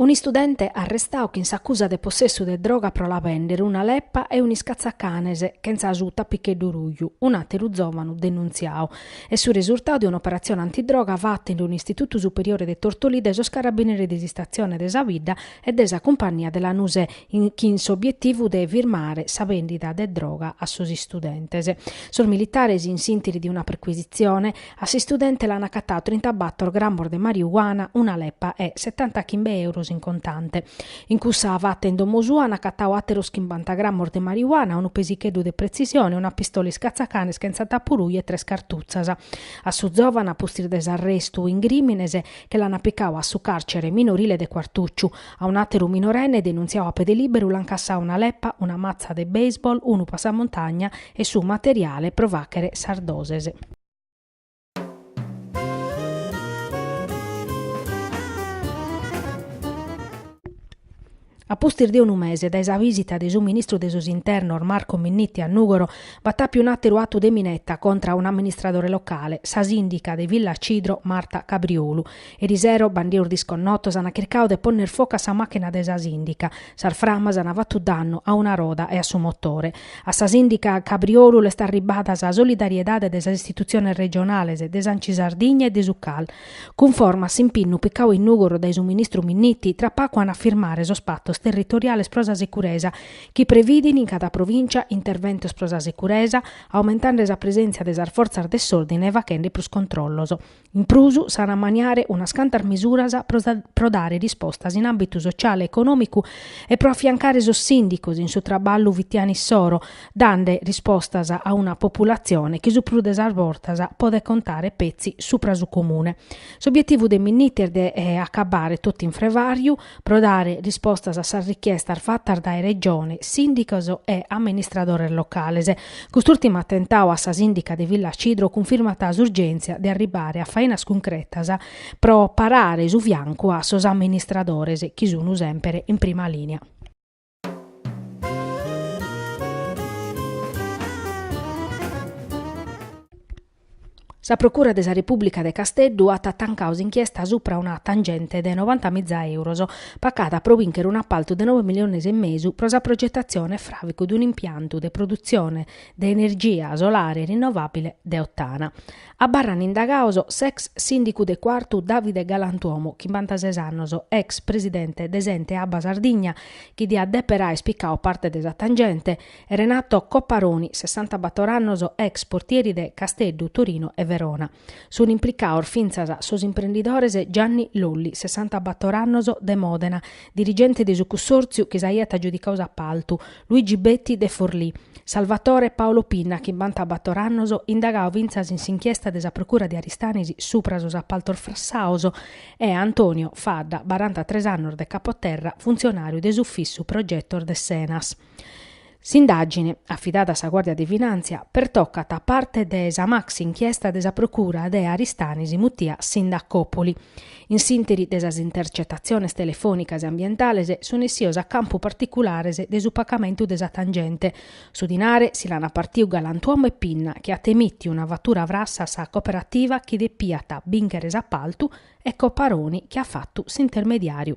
Un'istudente arrestadu chin s'acusa de possessu de droga pro la bèndere, una leppa e un'iscatzacanes chentza su tapicheddu ruju, un'àteru zòvanu denuntziadu. Est su resurtadu de un'operatzione antidroga fata in un'istitutu superiore de Tortolì dae sos carabineris de s'istatzione de sa bidda e de sa cumpannia de Lanusè, chin s'obietivu de firmare sa bèndida de droga a sos istudentes. Sos militares, in s'intiri de una perquisitzione, a s'istudente l'an acatadu trintabator gramos de mariuana, una lepa e setantachimbe euros in contante. In cussa fata in domo sua an acatadu àteros chimbanta gramos de mariuana, unu pesicheddu de pretzisione, una pistola iscatzacanes chentza tapu ruju e tres cartutzas. A su zòvanu, a pustis de s'arrestu in crìmines, che l'an picadu a su càrcere minorile de Quartùciu, A un'àteru minorenne denuntziadu a pede lìberu l'ant cassadu una lepa, una matza de baseball, unu passamontagna e su materiale pro fàghere sas doses. A pustis de unu mese dae sa vìsita de su ministru de sos internos Marco Minniti a Nùgoro, b'at àpiu un'àteru atu de mineta contra un'amministradore locale, sa sìndica de Villacidro Marta Cabriolu, Eri sero, bandidos disconnotos ant chircadu de ponner focu a sa machina de sa sindica. Sas framas ant fatu dannu a una roda e a su motore. A sa sindica Cabriolu l'est arribbada sa solidariedade de sas istitutziones regionales, de s'Anci Sardigna e de su CAL. Cunforma a s'impinnu picadu in Nùgoro dae su ministru Minniti, tra pagu ant a firmare sos patos territoriales pro sa securesa, chi previdin in cada provìncia interventos pro sa securesa, aumentande sa presèntzia de sas fortzas de s'òrdine e faghende prus controllos. In prus, s'an a ammaniare unas cantas mesuras pro dare rispostas in àmbitu sotziale e econòmicu e pro afiancare sos sìndicos in su traballu fitianu issoro, dande rispostas a una populatzione chi su prus de sas bortas podet contare petzi supra su comune. S'obietivu de Minniti est de acabbare totu in frevàriu, pro dare rispostas a sas richiestas fatas dae Regione, sìndicos e amministradores locales. Cust'ùrtimu atentadu a sa sìndica de Villacidro cunfirmat s'urgèntzia de arribare a fainas cuncretas pro parare su fiancu a sos amministradores chi sun semper in prima lìnia. Sa Procura de sa Repùblica de Casteddu at tancadu s'inchiesta subra una tangente de novanta miza euros, pacada pro bìnchere un'apaltu de noe miliones e mesu pro sa progetatzione e fràvicu de un'impiantu de produtzione de energia solare rinnovàbile de Ottana. Abarrant indagados s'ex sìndicu de Cuartu Davide Galantuomu, chimbantases annos, ex presidente de s'ente Abba Sardigna, chi diat dèpere àere picadu parte de sa tangente, e Renato Copparoni, sessantabator annos, ex portieri de Casteddu, Torino e Verona. Sunt implicados fintzas sos imprendidores Gianni Lolli, sessantabator annos, de Mòdena, dirigente de su cussòrtziu chi s'aiat agiudicadu s'appaltu, Luigi Betti de Forlì, Salvatore e Paolo Pinna chimbantabator annos indagadu fintzas in s'inchiesta de sa Procura de Aristanis supra sos appaltos frassados e Antonio Fadda, barantatres annos de Capoterra, funtzionàriu de s'Ufissu Progetos de s'Enas. S'indàgine, afidada a sa Guàrdia de Finàntzia, pertocat parte de sa maxi-inchiesta de sa Procura de Aristanis mutia Sindacòpoli. In s'interi de sas intercetatziones telefònicas e ambientales sunt essios a campu particulares de su pacamentu de sa tangente. Su dinare si l'an apartiu Galantuomu e Pinna chi at emìtiu una fatura frassa a sa cooperativa chi depiat bìnchere s'apaltu e Copparoni chi at fatu s'intermediàriu.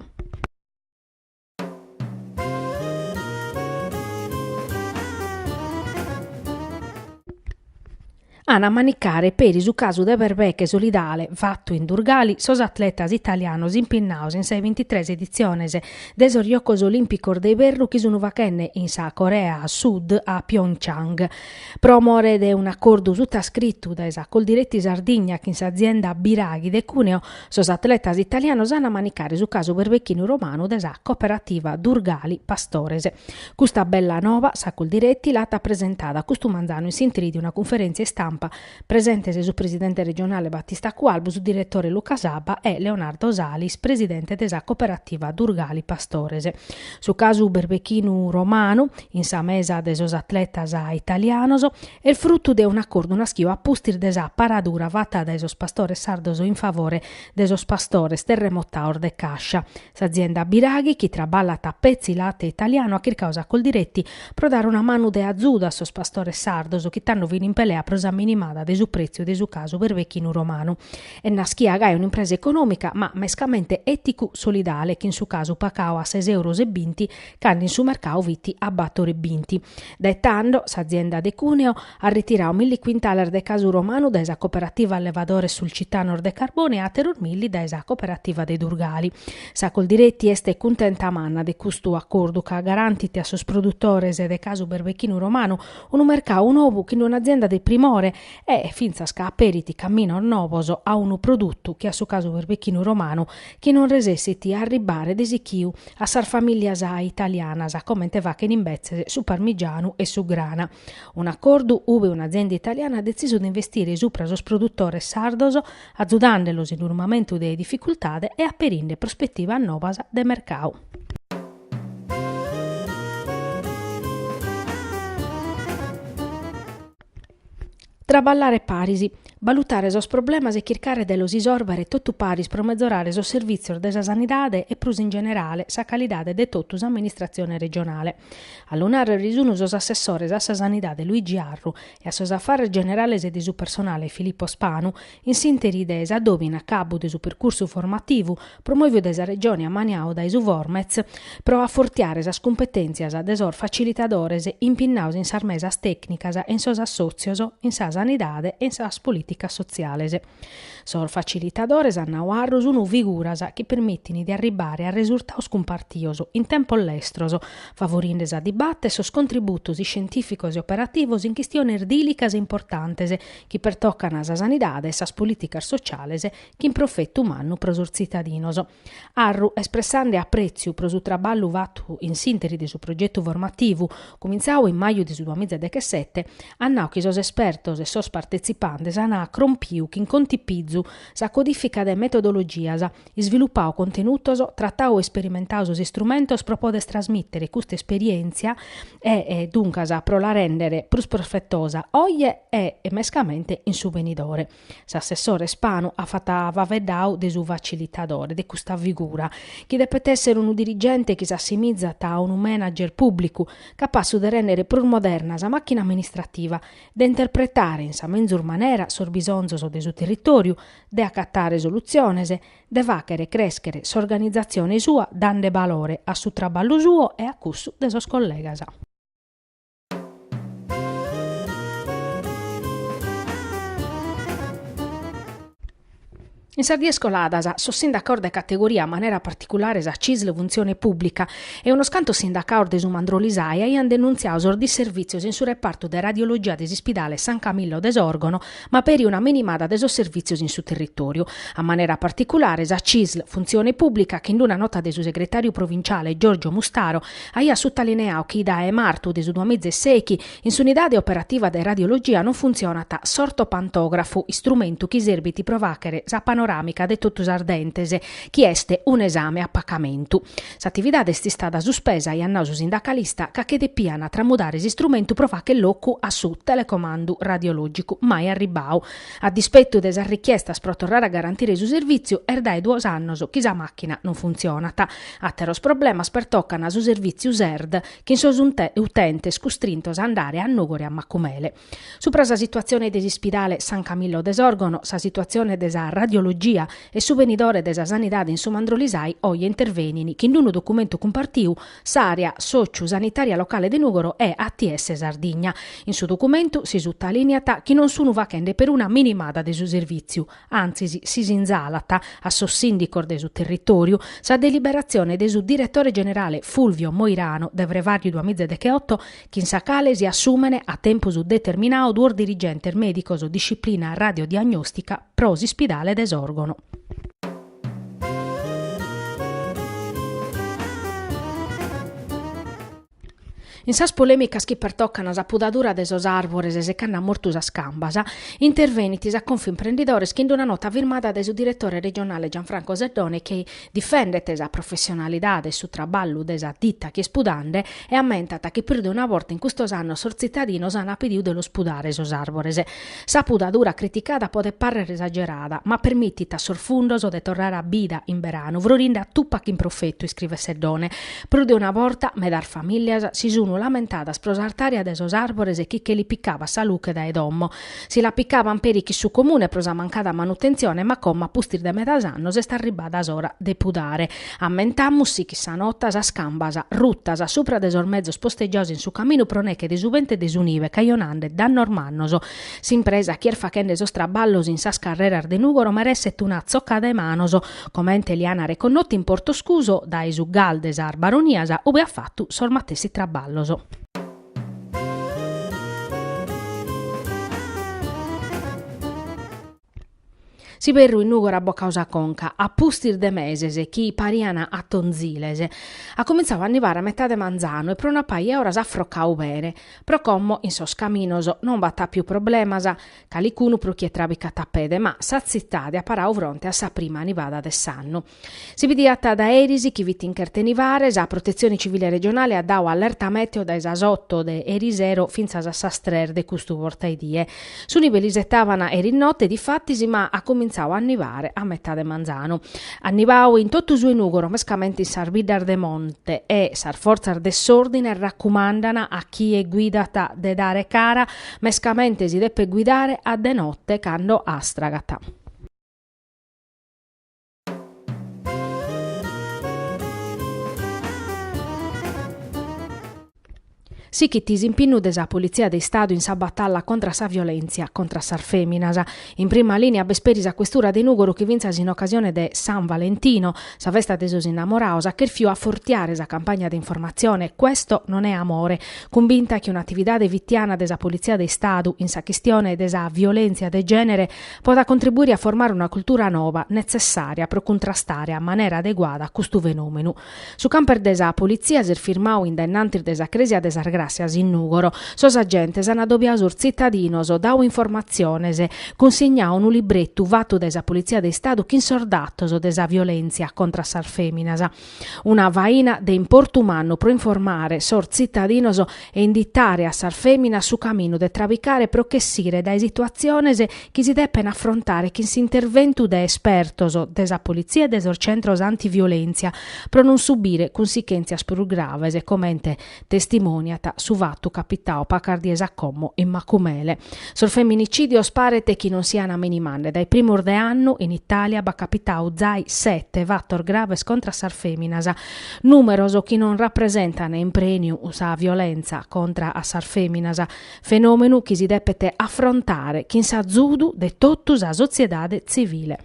An a manicare peri su casu de berbeche solidale fatu in Durgali sos atletas italianos impinnados in sas bintitres editziones de sos Giogos Olìmpicos de Iberru chi sun faghende in sa Corea Sud a Pyeongchang. Pro more de un'acordu sutascritu dae sa Coldiretti Sardigna chin s'azienda Biraghi de Cuneo Sos atletas italianos an a manicare su casu berbechinu romanu de sa Cooperativa Durgali Pastores. Custa bella noba sa Coldiretti l'at presentada custu manzanu in s'intri de una cunferèntzia istampa, presentes su presidente regionale Battista Cualbu, su diretore Luca Saba e Leonardo Salis, presidente de sa Cooperativa Durgali Pastores. Su casu berbechinu romanu in sa mesa de sos atletas italianos. Est frutu de un'acordu naschiu a pustis de sa paradura fata dae sos pastores sardos in favore de sos pastores terremotados de Cascia. S'azienda Biraghi, chi traballat a petzi late italianu, at chircadu sa Coldiretti pro dare una manu de azudu a sos pastores sardos chi tando fin in pelea pro sa minimada de su pretziu de su casu berbechinu romanu. Est naschia gai un'impresa econòmica, ma mescamente èticu-solidale, chin su casu pagadu a ses euros e binti cando in su mercadu fit a bator e binti. Dae tando s'azienda de Cuneo at ritiradu milli quintales de casu romanu dae sa Cooperativa Allevadores Sulcitanos de Carbone e àteros milli dae sa Cooperativa de Durgali. Sa Coldiretti est cuntenta manna de custu acordu ca garantit a sos produtores de casu berbechinu romanu unu mercadu nou chin un'azienda de primore e fintzas ca aperit caminos novos a unu produtu che a su casu berbechinu romanu chi non resessit a arribbare de sichiu a sas famìlias italianas, comente fachent imbetzes su Parmigianu e su Grana. Un'acordu ube un'azienda italiana at detzisu de investire subra sos produtores sardos, atzudàndelos in unu mamentu de dificultade e aperinde prospetivas nobas de mercadu. Traballare paris, balutare sos problemas e chircare de los isòrbere totu paris pro metzorare sos servìtzios de sa sanidade e prus in generale sa calidade de totu s'amministratzione regionale. A lu nàrrere sun sos assessores a sa sanidade Luigi Arru e a sos afares generales e de su personale Filippo Spanu In s'ìnteri de s'adòbiu in acabu de su percursu formativu promòviu dae sa Regione e ammaniau dae su Formez pro afortiare sas cumpetèntzias de sos facilitadores impinnaos in sas mesas tècnicas e in sos assòtzios in sa sanidade e in sas polìticas sotziales. Sos facilitadores, at nau Arru, sunt figuras chi permitint de arribare a resurtaos cumpartios in tempos lestros, favorinde sa dibata e sos contributos iscientìficos e operativos in chistiones dìlicas e importantes chi pertocana sa sanidade e sas polìticas sociales chin profetu mannu pro sos tzitadinos. Arru, espressande aprètziu pro su traballu fatu in s'ìnteri de su progetu formativu, cumintzau in maju de su duamiza e dechesete, at nau chi sos espertos e sos partetzipantes ana crompiu chin contipizu sa codìfica de metodologias, isvilupau contenutos, tratau e isperimentau sos istrumentos pro poder trasmìtere custa esperièntzia e, duncas, pro la rèndere prus profetosa oje e, mescamente, in su benidore. S'assessore Spanu at fata faveddau de su facilitadore de custa figura, chi depet èssere unu dirigente chi s'assimizat a unu manager pùblicu, capassu de rèndere prus moderna sa màchina amministrativa, de interpretare in sa menzus manera sos bisonzos de su territòriu, de acatare solutziones, de fàchere crèschere s'organizatzione sua dande balore a su traballu suo e a cussu de sos collegas. In sas dies coladas sos sindacaos de categoria, a manera particulare sa Cisl Funtzione Pùblica e unos cantos sindacaos de su Mandrolisai aiant denuntziau sos disservìtzios in su repartu de radiologia de s'Ispidale San Camillo de Sòrgono, ma peri una minimada de sos servìtzios in su territòriu, a manera particulare sa CISL, Funtzione Pùblica, chi in una nota de su segretàriu provinciale Giorgio Mustaro aiat sutalineau chi dae martu de su duamiza e sèichi in s'unidade operativa de radiologia non funtzionat s'ortopantògrafu, istrumentu chi serbit pro fàchere sa panoràmica de totu sas dentes, chi est un'esame a pacamentu. S'atividade est istada suspesa, aiat nau su sindacalista, ca che depiant tramudare s'istrumentu pro facher locu a su telecomandu radiològicu mai arribbau. A dispetu de sas richiestas pro torrare a garantire su servìtziu, est dae duos annos chi sa màchina non funtzionat. Àteros problemas pertocant su servìtziu Serd, chin sos utentes custrintos a andare a Nùgoro e a Macumele. Supra sa situatzione de s'ispidale San Camillo de Sòrgono, sa situatzione de sa radiologia e su benidore de sa sanidade in su Mandrolisai oje intervenini chin unu documentu cumpartiu s'àrea sòciu sanitària locale de Nùgoro e ATS Sardigna. In su documentu si sutalìneat chi non sunu fachende peruna minimada de su servìtziu, antzis si sinzalat a sos sìndicos de su territòriu, sa deliberatzione de su diretore generale Fulvio Moirano de frevàriu duamizadecheoto, chin sa cale si assumen a tempus determinau duos dirigentes mèdicos disciplina radiodiagnòstica pro s'ispidale de Sòrgono. In sas polèmicas chi pertocan sa pudadura de sos àrbores secande a mortu sas cambas, intervenit sa Confimprendidores chin una nota firmada dae su diretore regionale Gianfranco Seddone chi Difendet sa professionalidade e su traballu de sa dita chi est pudande e ammentat chi prus de una borta in custos annos sos tzitadinos an pidiu de los pudare sos arbores. Sa pudadura criticada podet parrer esagerada, ma permitit a sos fundos de torrare a bida in beranu frorinde a tupa chin profetu, iscrivet Seddone. Prus de una borta medas familias si sunu lamentadas pro s'artària de sos arbores chi che li picabat sa luche dae domo, Si la picaban peri chin su Comune pro sa mancada manutentzione ma como a pustis de medas annos est arribbada s'ora de pudare, ammentamus, sichit sa nota, sas cambas rutas supra de sos mezos posteggiaos in su caminu pro neche de su bentu e de su nive cajonande dannos mannos. S'impresa chi est fachende sos traballos in sas carreras de Nùgoro meresset una tzoccada 'e manos, comente li an reconnotu in Portoscuso dae su GAL de sas Baronias ue at fatu sos matessi traballos. S'iberru in Nùgoro at bocau sa conca, a pustis de meses chi parian atonziles, at comintzau a nivare a metade manzanu e pro una paja 'e oras at frocau bene. Pro como in sos caminos non b'at àpiu problemas, calicunu pro chie trabicat a pede, ma sa tzitade at parau fronte a sa prima nivada de s'annu. Si bidiat dae eris chi fit in cherta 'e nivare, sa Protetzione Civile Regionale at dau allerta mèteo dae sas oto de erisero fintzas a sas tres de custu bortaedie. Su nive l'isetaban eris note difatis ma at comintzau a nivare a metade manzanu. At nivau in totu su 'e Nùgoro mescamente in sas biddas de monte e sas fortzas de s'òrdine racumandan a chie guidat de dare cara mescamente si depet guidare a de note cando astragat. Sichit s'impinnu de sa Politzia de Istadu in sa batalla contra sa violèntzia contra sas fèminas. In prima lìnia b'est peri sa questura de Nùgoro chi fintzas in ocasione de San Valentino, sa festa de sos innamorados, at chèrfiu afortiare sa campagna de informatzione Questo non è amore, cumbinta chi un'atividade fitiana de sa Politzia de Istadu in sa chistione de sa violèntzia de gènere podat contribuire a formare una cultura noba netzessària pro cuntrastare a manera adeguada custu fenòmenu. Su camper de sa politzia s'est firmadu in dennantis de sa crèsia de sas Gràssias in Nùgoro. Sos agentes ant adobiadu sos tzitadinos, dadu informatziones, cunsignadu unu libretu fatu dae sa Politzia de Istadu chin sos datos de sa violèntzia contra sas fèminas, Una faina de importu mannu pro informare sos tzitadinos e inditare a sas fèminas su caminu de trabicare pro ch'essire dae situatziones chi si depen afrontare chin s'interventu de espertos de sa politzia e de sos centros antiviolèntzia pro non subire cunsichèntzias prus graves comente testimoniat su fatu capitau pacas dies a como in Macumele. Sos feminicidios paret chi non sian a minimande, dae primos de annu in Italia b'at capitau zai sete fatos graves contra a sas feminas, numeros chi non rapresentan in prenu sa violenza contra a sas feminas, fenomenu chi si depet afrontare chin s'azudu de totu sa sotziedade tzivile.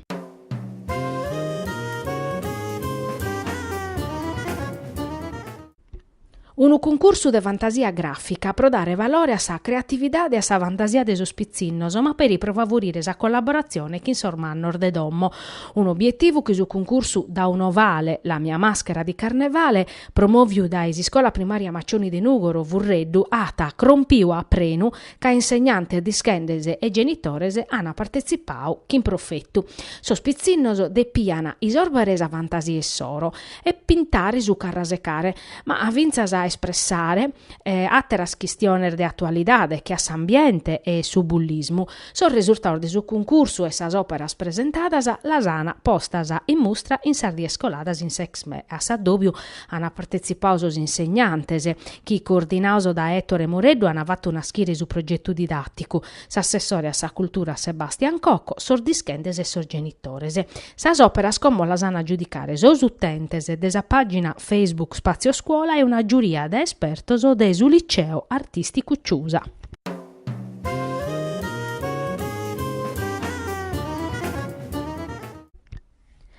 Unu cuncursu de fantasia gràfica pro dare valore a sa creatividade e a sa fantasia de sos pitzinnos, ma peri pro favurire sa collaboratzione chin sos mannos de domo. Un'obietivu chi su cuncursu Da un ovale, la mia maschera di carnevale, promòviu dae s'Iscola Primària Maccioni de Nùgoro, Furreddu, at crompiu a prenu ca insegnantes, dischentes e genitores ant partetzipadu chin profetu. Sos pitzinnos depian isòrbere sa fantasia issoro. e pintare su carrasecare, ma fintzas a espressare àteras chistiones de atualidade che a s'ambiente e su bullismu. Sos resurtados de su cuncursu e sas òperas presentadas las ana postas in mustra in sas dies coladas in s'Exme. A s'addòbiu ana partetzipadu sos insegnantes chi, coordinados dae Ettore Moreddu, ana fatu naschire su progetu didàticu. s'assessore a sa cultura Sebastian Cocco, sos dischentes e sos genitores. Sas òperas como las an a giudicare sos utentes de sa pàgina Facebook Spazio Scuola e una giuria de espertos de su Liceo Artìsticu Ciusa.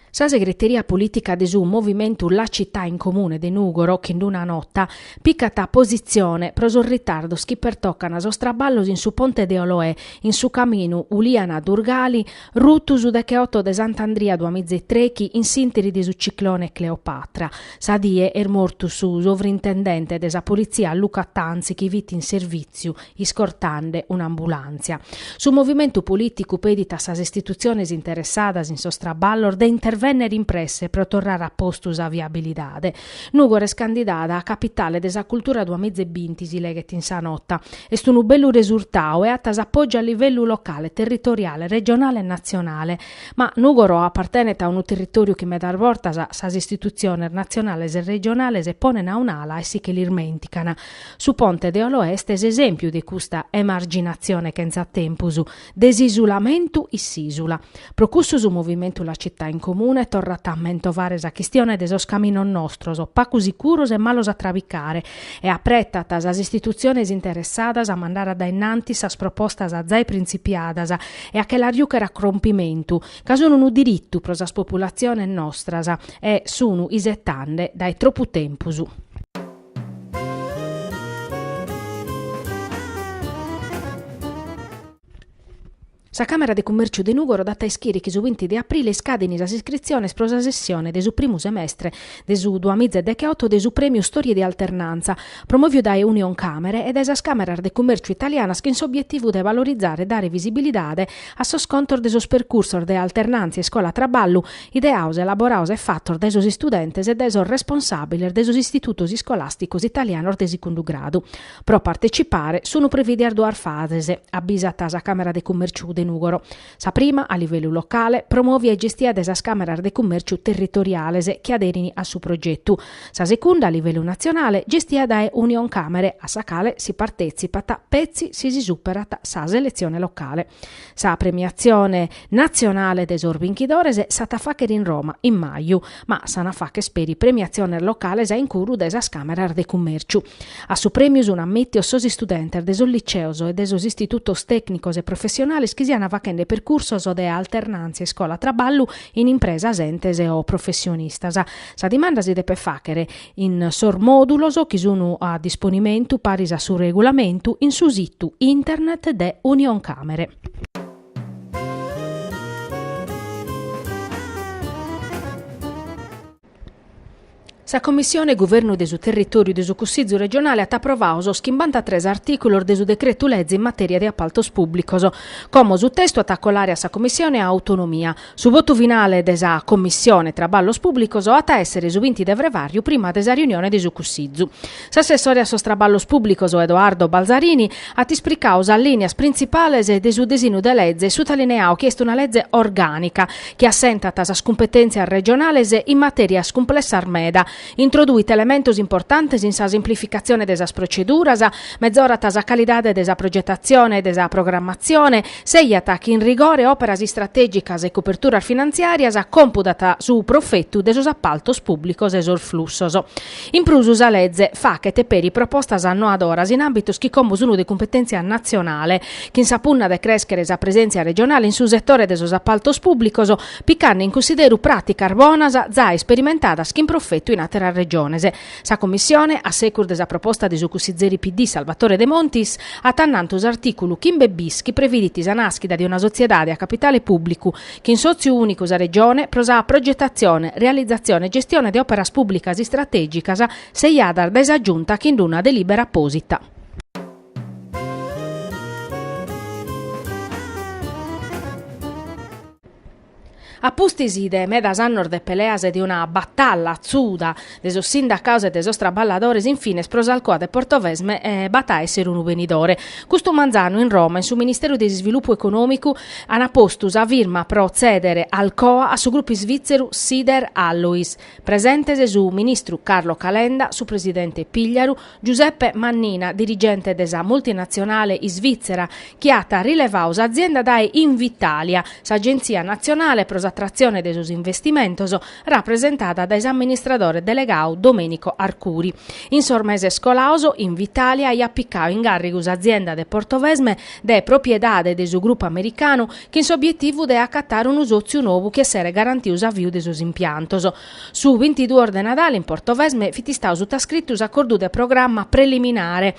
Sa segreteria polìtica de su movimentu La Città in Comune de Nùgoro, chi in una nota picat positzione pro sos ritardos chi pertocan sos traballos in su ponte de Oloè, in su caminu Uliana-Durgali, rutu su decheotto de Sant'Andria Duamiz'e-Trechi in s'interi de su ciclone Cleopatra. Sa die est mortu su sovrintendente de sa Politzia Luca Tanzi chi fit in servìtziu iscortande un'ambulàntzia. Su movimentu polìticu pedit a sas istitutziones interessadas in sos traballos de intervènnere in presse pro torrare a postu sa viabilidade. Nùgoro est candidada a Capitale de sa Cultura duas miza e binti, si leghet in sa nota. Est unu bellu resurtau e at s'apògiu a livellu locale, territoriale, regionale e natzionale. Ma Nùgoro apartenet a unu territòriu chi medas bortas sas istitutziones natzionales e regionales ponen a un'ala e si che l'ismènticana. Su Ponte de Oloè est s'esèmpiu de custa emarginatzione chentza tempus, de s'isulamentu in s'ìsula. Pro cussu su Movimentu La Città in Comune torrat a mentovare sa chistione de sos caminos nostros, pacu sicuros e malos a trabicare, e apretat sas istitutziones interessadas a mandare a dae in antis sas propostas zae printzipiadas e a che las jùchere a crompimentu, ca sun unu diritu pro sas populatziones nostras e sun isetande dae tropu tempus. Sa Càmera de Cummèrciu de Nùgoro dat a ischire chi su binti de aprile iscadin sas iscritziones pro sa sessione de su primu semestre de su duas miza e decheoto de su Prèmiu Storie di Alternanza, promòviu dae Unioncamere e dae sas Càmeras de Cummèrciu italianas chin s'obietivu de valorizare e dare visibilidade a sos contos de sos percursos de alternàntzia iscola-traballu ideaos, elaboraos e fatos dae sos istudentes e dae sos responsàbiles de sos istitutos iscolàsticos italianos de secundu gradu. Pro partecipare sun previdias duas fases, abbisat sa Càmera de Cummèrciu de Nùgoro. Sa prima, a livellu locale, promòvia e gestia dae sas Càmeras de Cummèrciu territoriales chi aderin a su progetu, Sa secunda a livellu natzionale gestia dae Unioncamere, a sa cale si partetzipat petzi si si superat sa seletzione locale. Sa premiatzione natzionale de sos binchidores s'at a fàchere in Roma in maju, ma s'an a fàchere peri premiatziones locales a incuru de sas Càmeras de Cummèrciu. A su prèmiu sun ammìtios sos istudentes de sos liceos e de sos istitutos tècnicos e professionales chi sian fachende percursos de alternàntzia iscola-traballu in impresas, entes o professionistas. Sa dimanda si depet fàchere in sos mòdulos chi sun a disponimentu paris a su regulamentu in su situ internet de Unioncamere. Sa Commissione Guvernu de su Territòriu de su Cussizu regionale at aprovau sos chimbantatres artìculos de su decretu-leze in matèria de apaltos pùblicos. Como su testu at a colare a sa Commissione Autonomia, Su votu finale de sa Commissione Traballos Pùblicos at a èssere su binti de frevàriu prima de sa riunione de su Cussizu. S'assessore a sos Traballos Pùblicos Edoardo Balzarini at ispricau sas lìnias printzipales de su disinu de leze e sutalineau chi est una leze orgànica chi assentat sas cumpetèntzias regionales in matèrias cumplessas meda Introduit elementos importantes in sa simplificatzione de sas proceduras, mezorat sa calidade de sa progetatzione e de sa programmatzione, seiat chin rigore òperas istratègicas e coperturas finantziàrias compudat su profetu de sos apaltos pùblicos e sos flussos. In prus sa leze fachet peri propostas annoadoras in àmbitos chi como sunt de cumpetèntzia natzionale, chin sa punna de crèschere sa presèntzia regionale in su setore de sos apaltos pùblicos, picande in cussideru pràticas bonas zai isperimentadas chin profetu in àteras Regiones. Sa Commissione, a secus de sa proposta de su cussizeri PD Salvatore Demontis, at annantu s'artìculu chimbe bis chi previdit sa nàschida de una sotziedade a capitale pùblicu, chin sòtziu ùnicu sa Regione, pro sa progetatzione, realizatzione e gestione de òperas pùblicas istratègicas seiadas dae sa Giunta chin una delìbera apòsita. A pustis de medas annos de peleas e de una batalla atzuda de sos sindacaos e de sos traballadores in fines pro s'Alcoa de Portovesme b'at a èssere unu benidore. Custu manzanu in Roma in su Ministeru de Isvilupu Econòmicu ant postu sa firma pro tzèdere Alcoa a su grupu isvìtzeru Sider Alloys. Presentes su ministru Carlo Calenda, su presidente Pigliaru, Giuseppe Mannina, dirigente de sa multinatzionale isvìtzera chi at rilevau s'azienda dae Invitalia, s'agentzia natzionale pro s'atratzione de sos investimentos, rapresentada dae s'amministradore delegau Domenico Arcuri. In sos meses colaos, Invitalia aiat picau in gàrrigu s'azienda de Portovesme de propriedade de su grupu americanu chin s'obietivu de acatare unu sòtziu novu chi esseret garantiu s'aviu de sos impiantos. Su bintiduos de Nadale in Portovesme fit istau sutascritu s'acordu de programma preliminare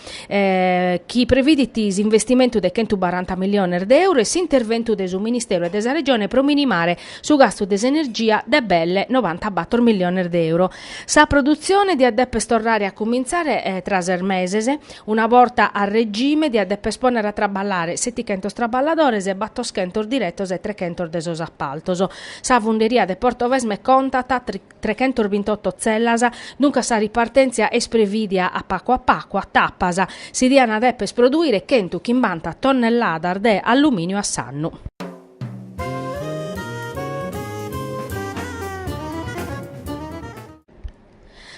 chi previdit s'investimentu de chentu baranta milliones de euro e s'interventu de su Ministeru e de sa Regione pro minimare su gastu de s'energia de belle novantabator milliones de euro. Sa produtzione diat depes torrare a cumintzare tra ses meses, una borta a regime diat depes pònnere a traballare setichentos traballadores, battoschentos diretos e trechentos de sos apaltos. Sa funderia de Portovesme contat trechentos bintotto tzellas, duncas sa ripartèntzia est prevìdia a pacu a pacu, a tapas. Si diant depes prodùire chentu chimbanta tonnelladas de allumìniu a s'annu.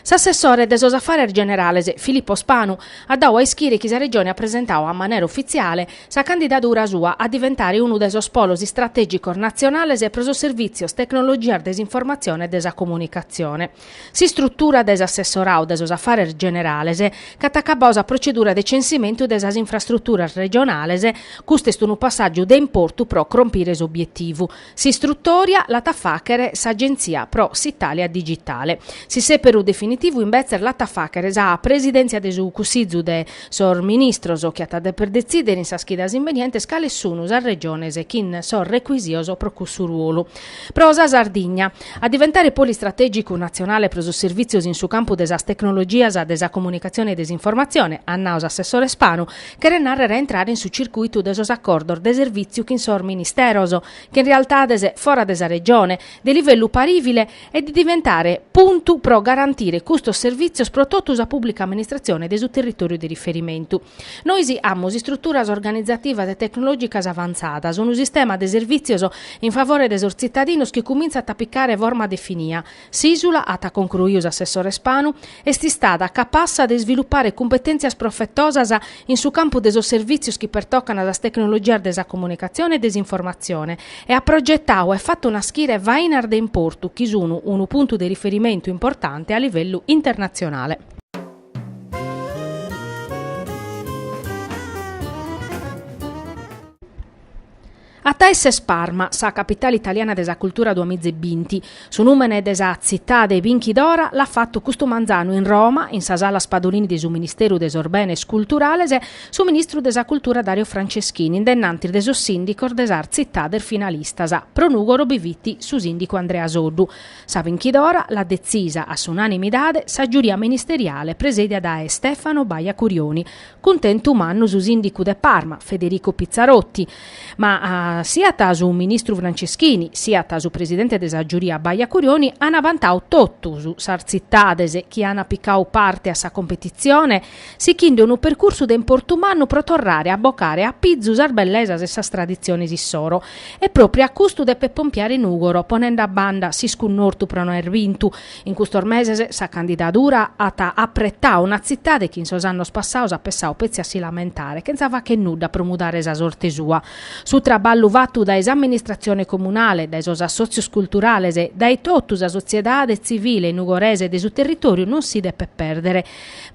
S'assessore de sos Afares Generales, Filippo Spanu, at dadu a ischire chi sa Regione at presentadu a manera ufitziale sa candidadura sua a diventare unu de sos polos istratègicos natzionales pro sos servìtzios Tecnologias de s'Informatzione e de sa Comunicatzione. S'istrutura de s'assessoradu de sos Afares Generales ch'at acabadu sa protzedura de censimentu de sas infrastruturas regionales, custu est unu passàgiu de importu pro crompire s'obietivu, S'istrutòria l'at a fàghere s'Agentzia pro s'Itàlia Digitale. S'isèperu definitivu imbetzes l'at a fàghere sa Presidèntzia de su Cussizu de sos Ministros chi at a dèper detzìdere in sas chidas imbenientes cales sunu sas Regiones chin sos recuisios pro cussu ruolu. Pro sa Sardigna a diventare polu istratègicu natzionale pro sos servìtzios in su campu de sas tecnologias de sa comunicatzione e de s'informatzione, at nadu s'assessore Spanu, cheret nàrrere a intrare in su circuitu de sos acordos de servìtziu chin sos ministeros, chin realtades fora de sa Regione, de livellu parìvile, e de diventare puntu pro garantire custos servìtzios pro totu sa pùblica amministratzione de su territòriu de riferimentu. Nois amus istruturas organizativas e tecnològicas avantzadas, unu sistema de servìtzios in favore de sos tzitadinos chi cumintzat a picare forma definia, S'ìsula, at concruiu s'assessore Spanu, est istada capassa de isvilupare cumpetèntzias profetosas in su campu de sos servìtzios chi pertocant sas tecnologias de sa comunicatzione e de s'informatzione e at progetadu e fatu naschire fainas de importu chi sun unu puntu de riferimentu importante a livellu internatzionale. A taes est Parma sa capitale italiana de sa cultura duamiza e binti. Su nùmene de sa tzitade binchidora l'at fatu custu manzanu in Roma, in sa Sala Spadolini de su Ministeru de sos Benes Culturales, su ministru de sa cultura Dario Franceschini in dennantis de sos sìndicos de sas tzitades finalistas, pro Nùgoro bi fit su sìndicu Andrea Soddu. Sa binchidora l'at detzisa a s'unanimidade sa giuria ministeriale presedia dae Stefano Baia Curioni, Cuntentu mannu su sìndicu de Parma, Federico Pizzarotti. Ma siat su ministru Franceschini, siat su presidente de sa giuria Baia Curioni ant vantadu totus sas tzitades chi ant picadu parte a sa competitzione, sighinde unu percursu de importu mannu pro torrare a bocare a pizu sas bellesas e sas traditziones issoro. E pròpriu a custu depet pompiare Nùgoro, ponende a banda s'iscunnortu pro no aer bintu, In custos meses sa candidadura at apretadu una tzitade chi in sos annos passados at pensadu petzi a si lamentare chentza fagher nudda pro mudare sa sorte sua. Su traballu fatu dae s'amministratzione comunale, dae sos assòtzios culturales, dae totu sa sotziedade tzivile nugoresa e de su territòriu non si depet pèrdere.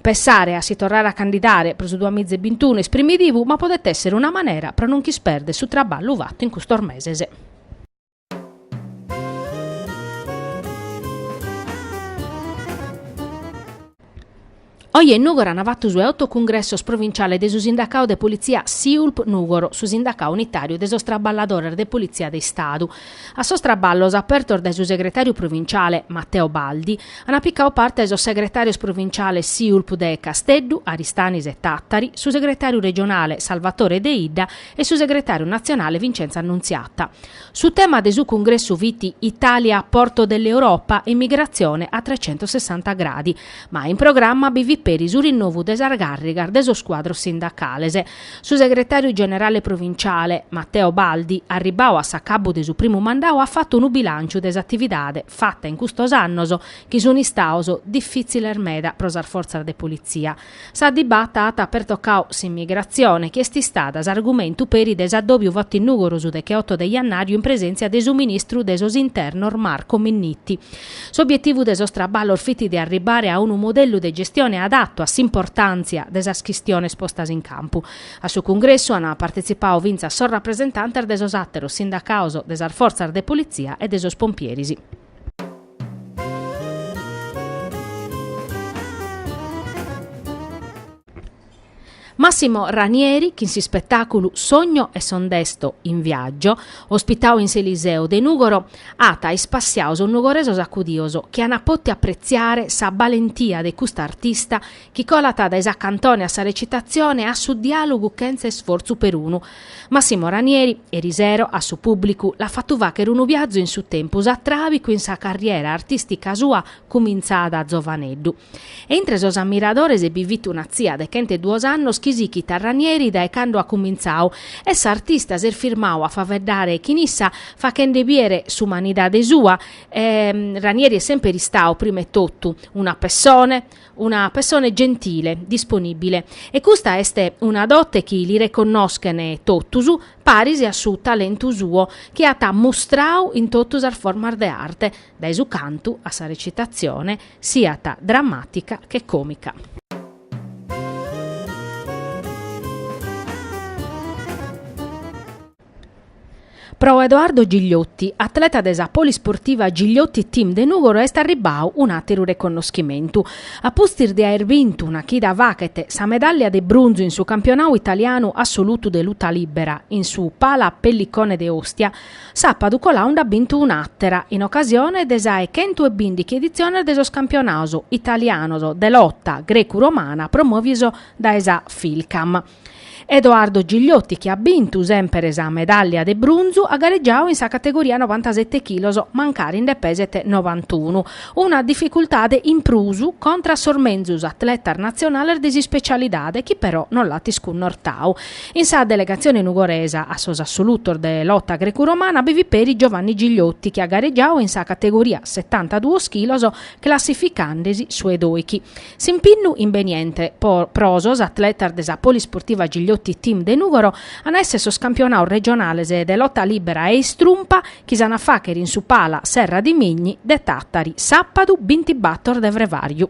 Pensare a si torrare a candidare pro su duamiza e bintunu est primidivu ma podet èssere una manera pro non ch'isperder su traballu fatu in custos meses. Oje in Nùgoro an fatu su 'e oto cungressos provinciale de su sindacadu de politzia Siulp Nùgoro, su sindacadu unitàriu de sos traballadores de politzia de Istadu. A sos traballos apertos dae su segretàriu provinciale Matteo Baldi ant picadu parte sos segretàrios provinciales Siulp de Casteddu, Aristanis e Tàtari, su segretàriu regionale Salvatore Deidda e su segretàriu natzionale Vincenzo Annunziata. Su tema de su cungressu fit Italia porto dell'Europa, immigrazione a trecentossessanta gradi, ma in programma bi fit peri su rinnovu de sas gàrrigas de sos cuadros sindacales. Su segretàriu generale provinciale, Matteo Baldi, arribbadu a s'acabbu de su primu mandadu at fatu unu bilànciu de s'atividade fata in custos annos chi sunt istados difìtziles meda pro sas fortzas de politzia, Sa dibata at pertocau s'immigrazione, chi est istada s'argumentu peri de s'addòbiu fatu in Nùgoro su decheoto de jannàriu in presèntzia de su ministru de sos Internos Marco Minniti. S'obietivu de sos traballos fit de arribbare a unu modellu de gestione adattu a s'importàntzia de sas chistiones postas in campu. A su cungressu ant partetzipadu fintzas sos rapresentantes de sos àteros sindacados de sas fortzas de politzia e de sos pompieris. Massimo Ranieri chin s'ispetàculu Sogno e son desto in viaggio, ospitadu in s'Eliseo de Nùgoro, at ispassiadu sos nugoresos acudios chi an pòtiu apretziare sa balentia de custa artista chi colat dae sa cantone a sa recitatzione a su diàlogu chentza isfortzu perunu, Massimo Ranieri, erisero, a su pùblicu, l'at fatu fàghere unu biazu in su tempus atràbicu in sa carriera artìstica sua cumintzada a zovaneddu. E intre sos ammiradores bi fit una tzia de chent'e duos annos chi sighit a Ranieri dae cando at cumintzadu e s'artista s'est firmadu a faeddare chin issa faghende bìdere s'umanidade sua, Ranieri est semper istadu, prima 'e totu, una pessone, una pessone gentile, disponìbile, e custa est una dote chi li reconnoschent totus, paris a su talentu suo chi at mustradu in totu sas formas de arte, dae su cantu a sa recitatzione, siat dramàtica che còmica. Pro Edoardo Gigliotti, atleta de sa Polisportiva Gigliotti Team de Nùgoro est arribbadu un'àteru reconnoschimentu. A pustis de aer bintu una chida faghet sa medàllia de brunzu in su campionadu italianu assolutu de luta lìbera in su Pala Pellicone de Ostia, sàpadu coladu nd'at bintu un'àtera in ocasione de sa 'e chentu e bìndighi editziones de sos campionados italianos de lota grecu-romana promòvidos dae sa Fijlkam. Edoardo Gigliotti chi at bintu semper sa medàllia de brunzu at garegiadu in sa categoria novantasete chilos, mancari nde peset novantunu, una dificultade in prus contra a sos menzus atletas natzionales de s'ispecialidade chi però non l'at iscunnortadu. In sa delegatzione nugoresa a sos assolutos de lota grecu-romana bi fit peri Giovanni Gigliotti chi at garegiadu in sa categoria setantaduos chilos classificande-si su 'e doichi. S'impinnu imbeniente pro sos atletas de sa Polisportiva Gigliotti Team de Nùgoro an a èssere sos campionados regionales de lota lìbera e istrumpa chi s'an a fàghere in su Pala Serradimigni de Tàtari sàpadu bintibator de frevàriu.